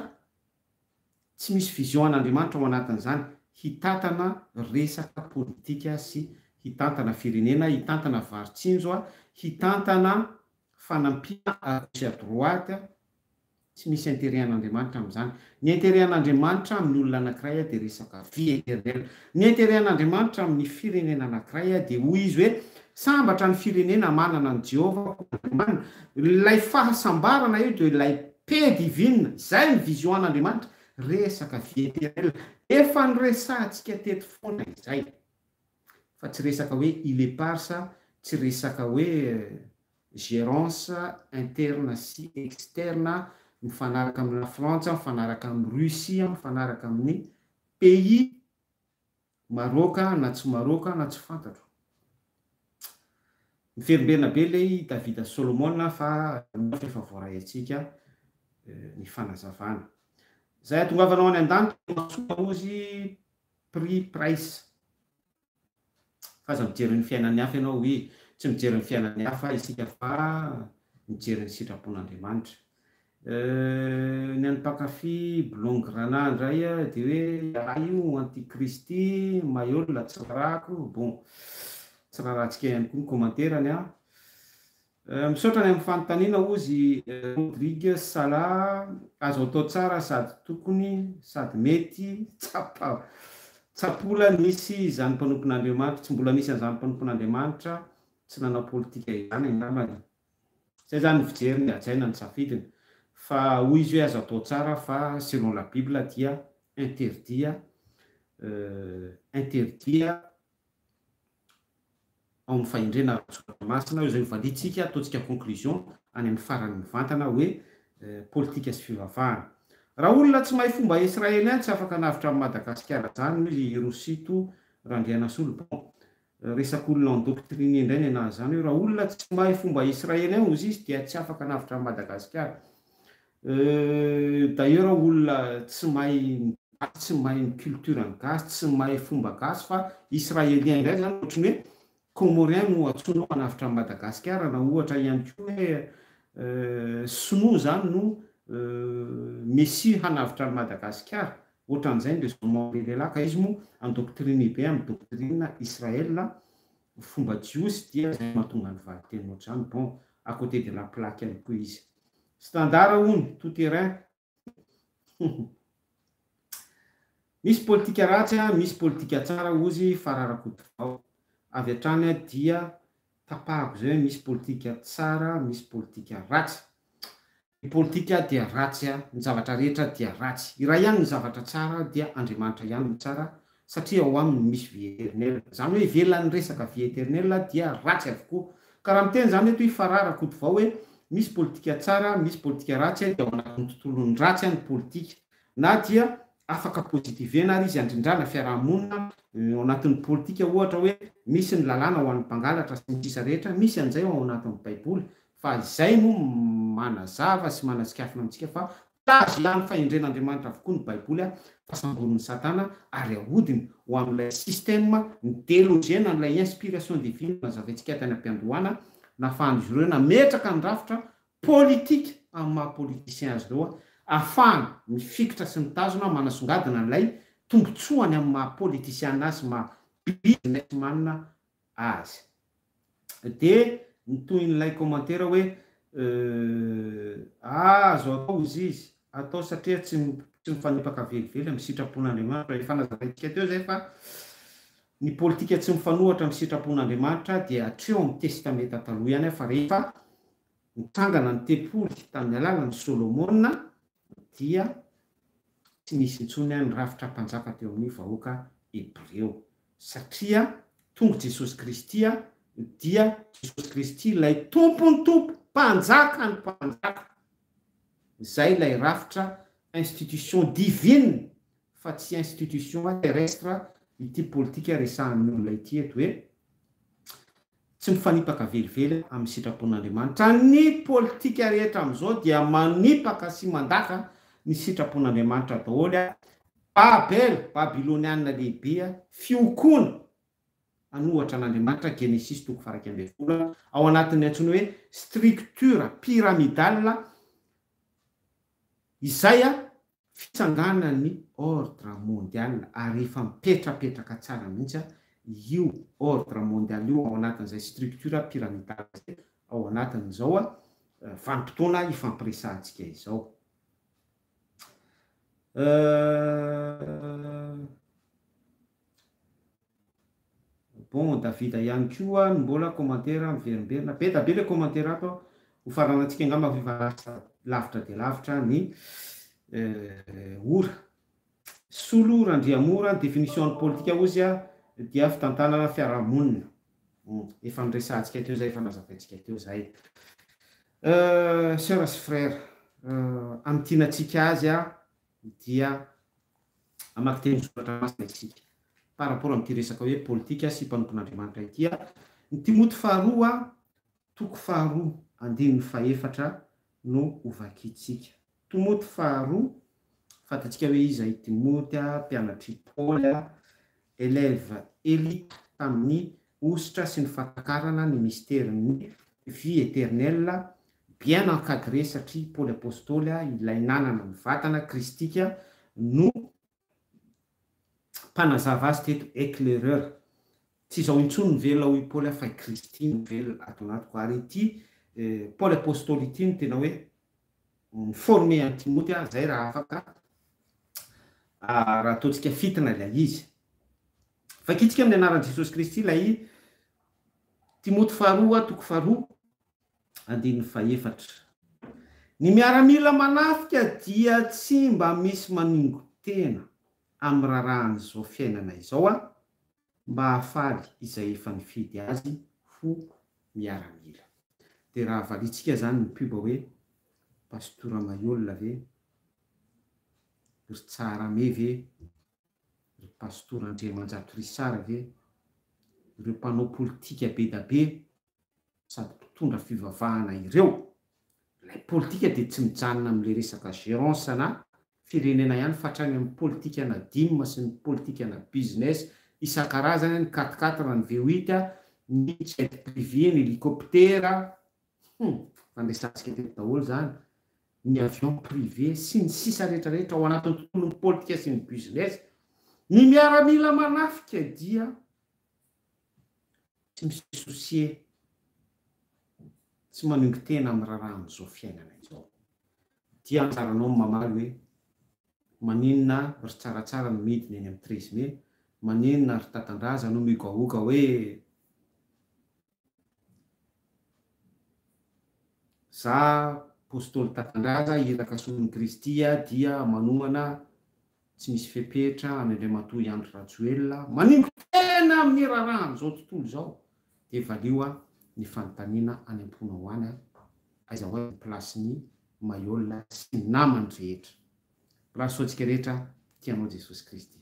tsy misy vision an'Andriamanitra ao anatin'izany, hitantana resaka politika sy hitantana firenena, hitantana varin-tsinjo, hitantana fanampiana à gauche à droite, Tsy misy interet an'Andriamanitra amin'izany. Ny interet an'Andriamanitra amin'ny olona anankiray dia resaka vie eternelle. Ny interet an'Andriamanitra amin'ny firenena anankiray dia hoy izy hoe, sambatra ny firenena manana an'i Jehovah ho Andriamaniny. Ilay fahasambarana io dia ilay paix divine. Izay ny vision an'Andriamanitra. Resaka vie eternelle. Efa noresahantsika teto foana izay. Fa tsy resaka hoe il est part sa tsy resaka hoe gérance interne sy externe mifanaraka amin'i La Frantsa, mifanaraka amin'i Russie, mifanaraka amin'ny pays Maroc na tsy Maroc na tsy fantatro. Miverimberina be ilay David Solomon fa mino aho fa efa voaray antsika ny fanazavana. Izay hatongavanao any an-danitra no mahasoa Maozy Pri Price. Fa aza mijery ny fiainan'ny hafa ianao oui, tsy mijery ny fiainan'ny hafa isika fa mijery ny sitrapon'Andriamanitra. Euh, ny an'ny mpankafy blongy Ranah indray dia hoe ialahy io anti-kristy, maiola, tsy rarahako, bon, tsy rarahantsika ihany koa ny commentaire-ny an. Misaotra ny amin'ny fanontaniana ozy Rodrigue Sala, azo atao tsara sady tokony sady mety tsapa tsapola nisy izany mpanompon'Andriamanitra, tsy mbola nisy an'izany mpanompon'Andriamanitra tsy nanao politika izany angambany. Izay izany ny fijeriny hajaina ny safidiny fa hoy izy hoe azo atao tsara fa selon la bible dia interdit interdit ao amin'ny fahendrena ara-tsoratra masina, izay hovaliantsika, ataontsika conclusion any amin'ny farany mivantana hoe politika sy fivavahana. Raha olona tsy mahay fomba Israely ihany tsy afaka hanavotra an'i Madagasikara zany hoy i Rosito Randrianasolo bon resak'olona endoctriner indray nenaha zany hoe raha olona tsy mahay fomba Israely ihany ozizy dia tsy afaka hanavotra an'i Madagasikara. Euh d'ailleurs olona tsy mahay ny gasy, tsy mahay ny culture ny gasy, tsy mahay fomba gasy fa Israelien indray zany ohatry ny hoe Comorien no antsoina ao hanavotra an'i Madagasikara na ohatra ihany koa hoe euh sinoa zany no euh Messie hanavotra an'i Madagasikara ohatran'izay ny raisonnement be lehilahy ka izy moa an-doctrine be amin'ny doctrine Israel fomba jiosy dia zay no mahatonga ny valinteny ohatr'izany bon à cote de la plaque ihany koa izy. Standard hono tout terrain Misy politika ratsy misy politika tsara ozy Fara Rakotovao avy hatrany dia tapahako izay hoe misy politika tsara misy politika ratsy Ny politika dia ratsy ny zavatra rehetra dia ratsy Iray ihany ny zavatra tsara dia Andriamanitra ihany no tsara satria ao aminy misy vie eternelle, izany hoe ivelan'ny resaka vie eternelle dia ratsy avokoa, ka raha miteny izany eto i Farah Rakotovao hoe misy politika tsara, misy politika ratsy dia ao anatin'ny tontolon'ny ratsy ny politika, na dia afaka positivena ary izy handrindrana fiaraha-monina ao anatin'ny politika ohatra hoe misy ny lalàna ho an'ny mpangalatra sy ny sisa rehetra, misy an'izay ao anatin'ny baiboly, fa izay no manazava sy manasikafona amintsika fa tazo ihany fahendren'Andriamanitra avokoa ny Baiboly fa samborin'i Satana ary ahodiny ho amin'ilay système ny deloge na ilay inspiration divine nazavaintsika tany am-piandohana nafahan'izy ireo nametraka ny rafitra politique amin'ny maha politiciens azy ireo afahany mifikitra sy mitazona manasongadina ilay tombotsoany amin'ny maha politiciana azy sy maha businessman azy. Dia ny tohin'ilay kômantera hoe euh ah azo atao ozy izy atao satria tsy tsy mifanipaka velively amin'ny sitrapon'Andriamanitra. Efa nazaraintsika teo izay fa ny politika tsy mifanohatra amin'ny sitrapon'Andriamanitra dia hatreo amin'ny Testamenta Taloha ihany fa rehefa nitsangana ny tempoly tamin'ny alalan'i Solomona dia tsy nisy intsony an ny rafitra mpanjaka teo amin ny vahoaka Hebreo, satria tonga Jesosy Kristy an dia Jesosy Kristy ilay Tompon ny Tompo, Mpanjakan ny mpanjaka. Izay ilay rafitra institution divine fa tsy institution terrestre ity politika resahan ny olona ity eto hoe, Tsy mifanipaka velively amin'ny sitrapon'Andriamanitra. Ny politika rehetra amin'izao dia manipaka sy mandaka ny sitrapon'Andriamanitra daholo. Babel, Babylonianina lehibe, fiokoana an'ohatra an'Andriamanitra, Genesisy toko faha iraika ambin'ny folo, ao anatin'ny antsoina hoe structure pyramidale, izay fitsanganan'ny ordre mondial ary efa mipetrapetraka tsara mihitsy io ordre mondial io ao anatin'izay structure pyramidale izay ao anatin'izao vanim-potoana hifampiresahantsika izao. Euh... Bon Davida ihany koa no mbola commentaire miverimberina, be da be le commentaire ato a, ho faranantsika angamba fa efa lasa lavitra dia lavitra ny ora. Solo Randriamora, ny définition ny politika hozy a dia fitantanana fiarahamonina, efa noresahantsika teo zay, efa nazavaintsika teo zay. Soeur sy frère, amin-tianantsika azy a, dia hamaky teny soratra masina isika par rapport amin'ity resaka hoe politika sy mpanompon'Andriamanitra ity. Ny Timoty faharoa toko faharoa andininy fahefatra no ho vakintsika. Timoty faharoa, fantatsika hoe iza i Timoty, mpianatr'i Paoly, Élève élite tamin'ny Hosotra sy ny fatakarana ny mysterin'ny Vie éternelle bien encadré satria Paoly Apostoly a ilay nanana ny vatana kristika no mpanazava azy teto éclaireur. Tsy izao intsony ny velona hoy Paoly a fa i Kristy no velona ato anatiko ary ity Paoly Apostoly ity no tena hoe Ni-former an'i Timoty aho izay raha afaka, raha ataontsika fintina ilay izy. Vakintsika amin'ny anaran'i Jesosy Kristy ilay Timoty faharoa, toko faharoa, andininy fahefatra. Ny miaramila manafika dia tsy mba misy manongo-tena amin'ny rarahan'izao fiainana izao an! mba hahafaly izay efa nifidy azy ho miaramila. Dia raha valiantsika zany ny pub hoe Pasteur Ramaiola ve? Ry Tsaharame ve? Ry Pastor Andriamanjato Richard ve? Ireo mpanao politika be da be sady mpitondra fivavahana ireo, ilay politika dia tsy mijanona amin'ilay resaka gérance na firenena ihany fa hatrany amin'ny politikana dim sy ny politikana business isan-karazany, ny quat-quatre, ny v huit, ny jet privé, ny hélicoptère, hum, efa niresahantsika teto daholo izany, ny avion privé sy ny sisa rehetra rehetra ao anatin'ny tontolon'ny politika sy ny business, ny miaramila manafika dia. tsy mi se soucier, tsy manongy tena amin'ny raharaha amin'izao fiainana izao. Dia anjaranao ny mamaly hoe, maninona ry tsaratsara no midina eny amin'ny treize mai, maninona ry tatandraza no mihogahoga hoe za apostoly tatandraza iraka solon'i Kristy dia manohana tsy misy fepetra any Andriamatoa i Andry Rajoelina manimba tena amin'ny raharahan'izao tontolo izao dia valio an ny fanontaniana any am-ponao any an, aiza ho aiza ny plasin'i Maihol sy ny namany rehetra? Rasoantsika rehetra tia anao Jesosy Kristy.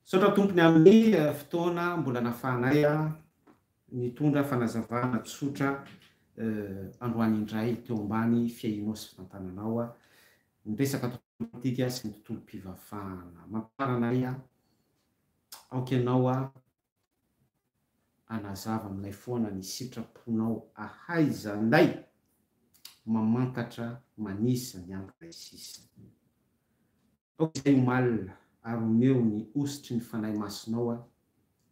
Misaotra Tompony amin'ny fotoana mbola nafahanay nitondra fanazavana tsotra androany indray teo ambany fiahianao sy fitantananao ny resaka tontolo politika sy ny tontolom-pivavahana. Mampiharana anay aho. Aoka ianao hanazava aminay foana ny sitraponao ahaizanay mamantatra manisa ny andro iray sisa. Aoka izay omaly ary omeo ny hosotry ny Fanahy Masinao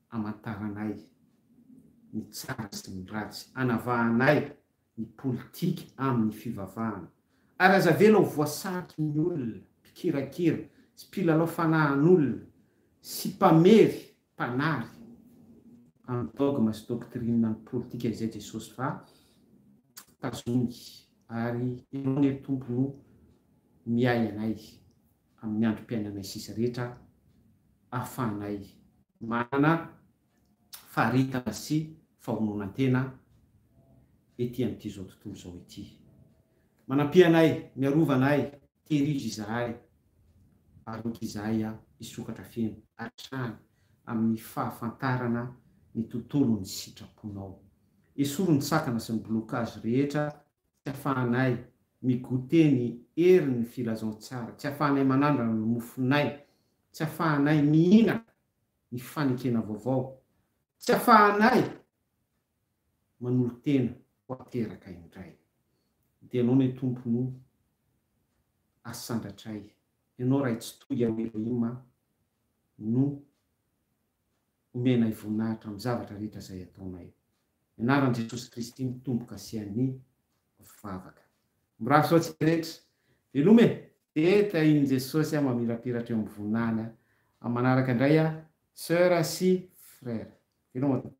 hamantaranay ny tsara sy ny ratsy, hanavahanay ny politika amin'ny fivavahana. Ary aza avela ho voasariky ny olona mpikirakira sy mpilalao fanahin'olona sy mpamery mpanary amin'ny dogma sy doctrine ny politika izay Jesosy fa tazony ary Ianao anie ry Tompo no miahy anay amin'ny androm-piainanay sisa rehetra ahafahanay manana faritana sy fahononan-tena ety amin'ity izao tontolo izao ity. Manampiha anay, miarova anay, tehirizo izahay, ary aoka izahay hisokatra feno hatrany amin'ny fahafantarana ny tontolon'ny sitraponao. Esory ny sakana sy ny blocage rehetra tsy afahanay mi-goûter ny herin'ny filazantsara, tsy afahanay manandrana ny mofonay, tsy afahanay mihinana ny fanekena vaovao, tsy afahanay manolo-tena ho ateraka indray. Dia Ianao ny Tompo no asandratray, Ianao Ray Tsitohy ao Elohim a, no omenay voninahitra amin'ny zavatra rehetra izay ataonay. Ny anaran'i Jesosy Kristy mitomboka sy an'ny vavaka. Mirary soa antsika rehetra. Veloma e! Dia tahin'i Jesosy aho mamirapiratra eo amin'ny voninahiny aho. Amin'ny manaraka indray aho Soeur sy Frère. Veloma tompoko.